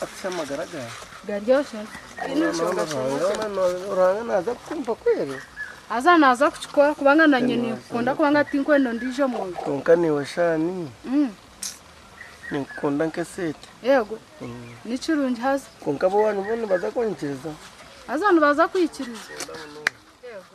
Bakuhe amagara gaawe. Garyosha. Tihaine nshonga shamukya. Ruhanga naaza kukumpa kweli. Haza naaza kukikora kubanga nanye ninkukunda kubanga tinkwenda ondiijo muntu. Kwonka naiwe Shaani ninkukunda nk'eseete. Eego. Ni kirungi haza. Kwonka ab'owaanyu boona nibaza kunyikiriza? Haza nibaza kwikiriza. Eego.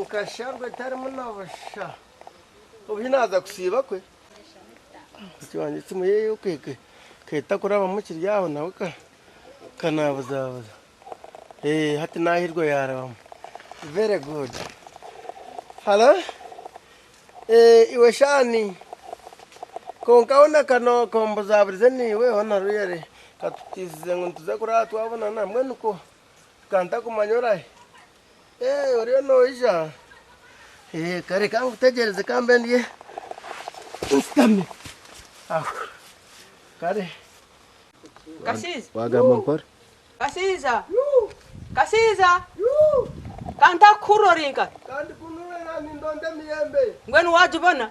Nkasharwa etarimu na busha. Obu hi naaza kusiiba kwe, mukazi wangye esimu ye ekahita kurabamu kiri aho nawe ka naabuzaabuza. Hati naahirwa yaarabamu. Very good. Halo? Iwe shaani? Kwonka hoona ka ombuzaaburize niiwe hoona rwere. Ka tutiisize ngu nituza kurara twabonana, mbwenu ko? Ka ntakumanya orahi? Oriyo noija? Kare ka nkutegyereze ka mbe ndi nshutami aho. Kare. Kasija! Waagamba mpora. Kasija! Kasija! Ka ntakuhurire ori nkahi? Ka ndikunuure naandinda onde emiyembe. Mbwenu waagibona?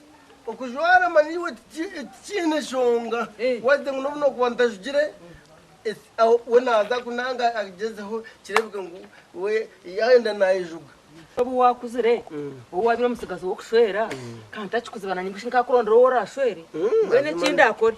Okujwara manyiwe tikiine nshonga wade ngu nobu nokuba ntajugire we naza ku nanga agyezeho kirebeka ngu we yayenda nayejuga. Nobu wakuzire ou wabire omutsigazi wokushwera kandi takikuzibana ninga shi nkakurondera ou orashwere mbwenu ekindi akore.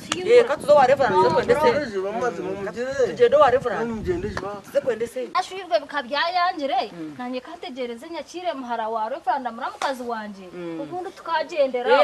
Ashwijwe bika byayangire nanye kategyereze nyakiire muhara wa Reveranda mura mukazi wangye obundi tukagyendera aho.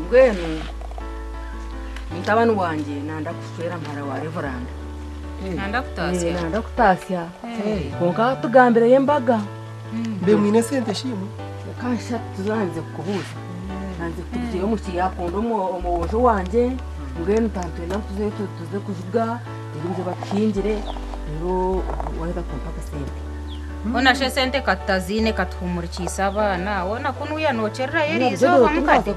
Mbwenu mutabani wangye nanda kukushwera muhara wa reveranda. Nanda kutatsya. Nanda kutatsya. Kwonka tugambireyo embaga. Mbe mwine sente shi imwe? Kansha tuzandize kukubuuza. Nanze kutugireyo omu ki yakunda omwojo wangye, mbwenu tantwenda ngu tuzeyo tuze kuziga. Reero nze bakuhingire, reero waaheza kumpa akasente. Hoona shi esente ka tutaziine ka tuhumurikiise abaana? Hoona ku nuuya nookyererayo erizooba mukade?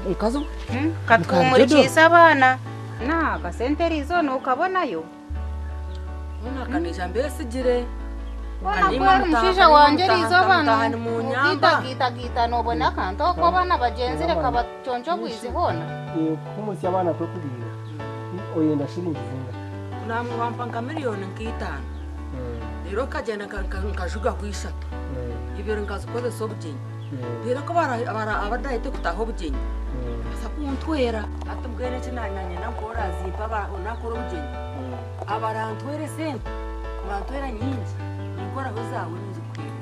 Ka tuhumurikiise abaana. Hoona akasente erizooba nookabonayo? Hoona ka naija mbeesigire. Hoona ku ori mushaija wangye erizooba noogiitagaita gaita noobona akantu ahu kuba abaana bagyenzire ka. Kyonki obwizi hoona? Eeh kuhumutya abaana kwekuriira Ih oyenda shillingi zingahi? Nangwa wampa nka million nka itaano reero nkagyenda nkajugaho ishatu ibiri nkazikozesa obugyenyi reero ku abadahete kutaho obugyenyi nibabaasa kuntwera. Hati mbwenu eki nanyenda ngu orazimpa ahu nakora obugyenyi abarantwera esente bantwera nyingi ninkoraho ezaawe ningikuhereza.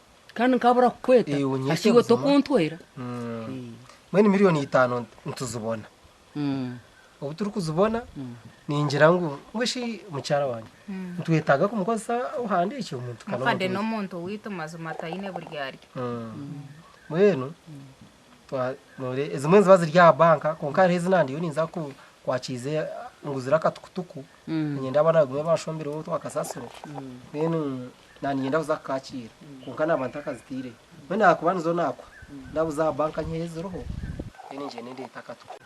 kandi nkabura kukweta Eh, unyete hati iwe buzima. tokuntwera Mm. mbwenu miliyoni itaano nti- nituzibona Mm. obu turikuzibona ningira ngu ngu shi mukyara wange nitwetaaga kumukozesa ohandi ekyo omuntu kana mukade omuntu n'omuntu waitu mazima taine buryarya mbwenu Ezimwe niziba ziri aha banka kwonka hariho ezi nandiyo ninza kwakiize nguzire akatukutuku niinyenda abaana bagume banshombireho otu akasasiro then nandinyenda kuza kukaakiira kwonka naaba ntakazitaireyo. Mbwenu ahakuba nizo naakuha ndabuza aha banka nyiha ei ziriho then ngyende ndeete akatukutuku.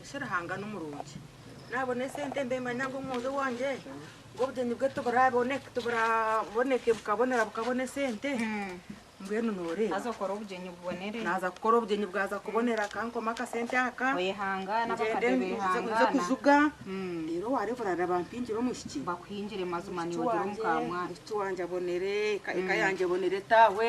Ensha Ruhanga nimurungi. Naabona esente mbe manya ngu omwojo wangye ngu obugyenyi bwe tiburaboneke bukabonera bukabona esente. Mbwenu nooreeba. Naaza kukora obugyenyi bubonere. Naaza kukora obugyenyi bwaza kubonera akankoma akasente aka. Oyehangaana abakade behangaana. Nze kujuga. Reero waareeba orareeba bampingire omwishiki. Bakuhingire mazima niiwe ogira omu ka mwana. Omwishiki wangye abonere, eka yangye ebonere, etaawe.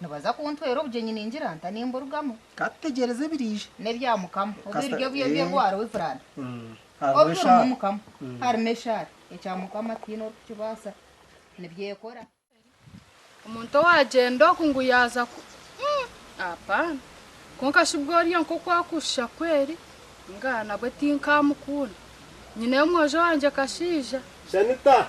Nibaza kuntwera obugyenyi ningira nta nimburugamu. Ka tutegyereze ebiriija. N'ebya Mukama. Obu Kasita, ebiryo bye eeh. by'orwaro bifuraana. Hariho Obu turimu eshaara. Mukama. Harimu eshaara. Ekya Mukama tihaine orikukibaasa. Nibyekora. Omuntu owaagyenda oku ngu yaaza ku, umm, apaana. Kwonka shi bworya nk'oku akushusha kweri? Ngaa, nabwe tinkaamukunda. Nyineyo omwojo wangye kashaija. Shanita,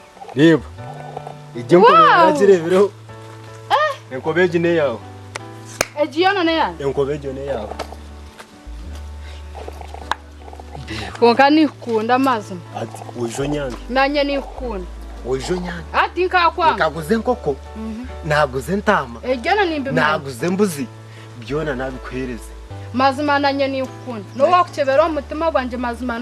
Reeba, egi enkoba Wow! yaaragi reebireho. Enkoba egi n'eyaawe. Egi yoona n'eyaawe? Enkoba egyo n'eyaawe. Kwonka niikukunda mazima. Ati oija onyange, Nanye niikukunda. oija onyange. Ah, tinkakwanga. Nkaguza enkoko, naaguza entaama, Ebi byona nimbimanya. naaguza embuzi, byona naabikuheereza. Mazima nanye ninkukunda. N'owaakukyebera omu mutima gwangye mazima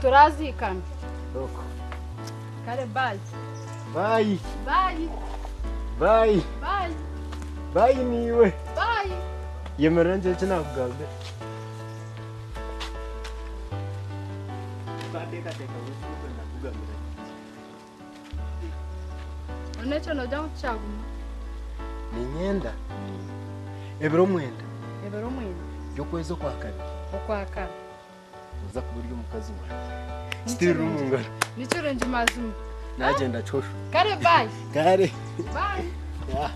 Turaziikana. Oku. Kare baayi. Baayi. Baayi. Baayi. Baayi. Baayi niiwe. Baayi. Yemerera ngire eki naakugambira. Tukateekateeka ngu eki n'okwenda kukugambira. None ekyo noogira ngu tikyaguma? Niinyenda ebiro mwenda Ebiro mwenda by'okwezi okwa kabiri. okwa kare. Oza kuba ori omukazi wangye. Still ori omu ngaro. Nikyo rwengi mazima. Nagyenda kyoshwa. Kare bye. Kare. Bye. Yeah.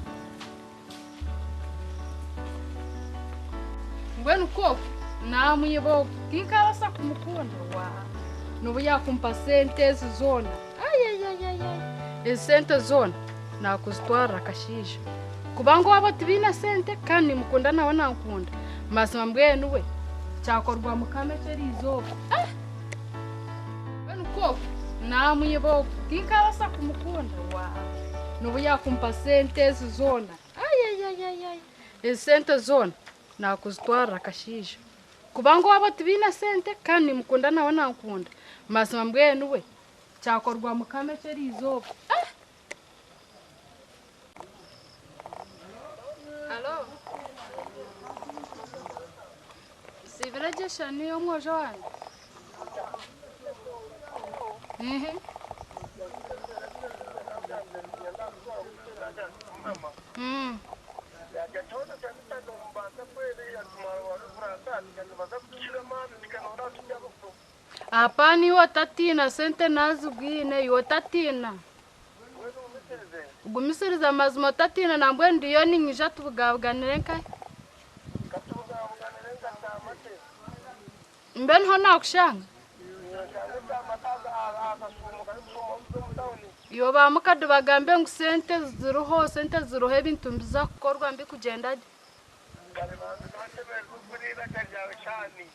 Mbwenu kofu namwiba ogu tinkaabasa kumukunda wa nobu yaakumpa sente ezi zoona Ezi sente zoona naakuzitwarira akashaija kuba ngu abo tibaine sente kandi nimukunda nawe nankunda mazima mbwenu we kyakorwa mukama eki erizooba mbwenu ku oku naamwiba oku tinkabaasa kumukunda waawa nobu yaakumpa sente ezi zoona ezi sente zoona naakuzitwarira akashaija kuba ngu abo tibaine sente kandi nimukunda nawe nankunda mazima mbwenu we Kyakorwa mukama ekyo eriizooba. Halo. Nsiibire gye eshani y'omwojo wangye. Ehe. Mm. Aha paani iwe otatiina, sente naazigwine iwe otatiina. Gumisiriza amazima otatiina nambwenu ndiyo ninyija tubugabuganire nkahi? Mbe niho naakushanga? Iwe ba mukade bagambe ngu sente ziriho, sente ziriho ebintu nibiza kukorwa mbikugyenda gye.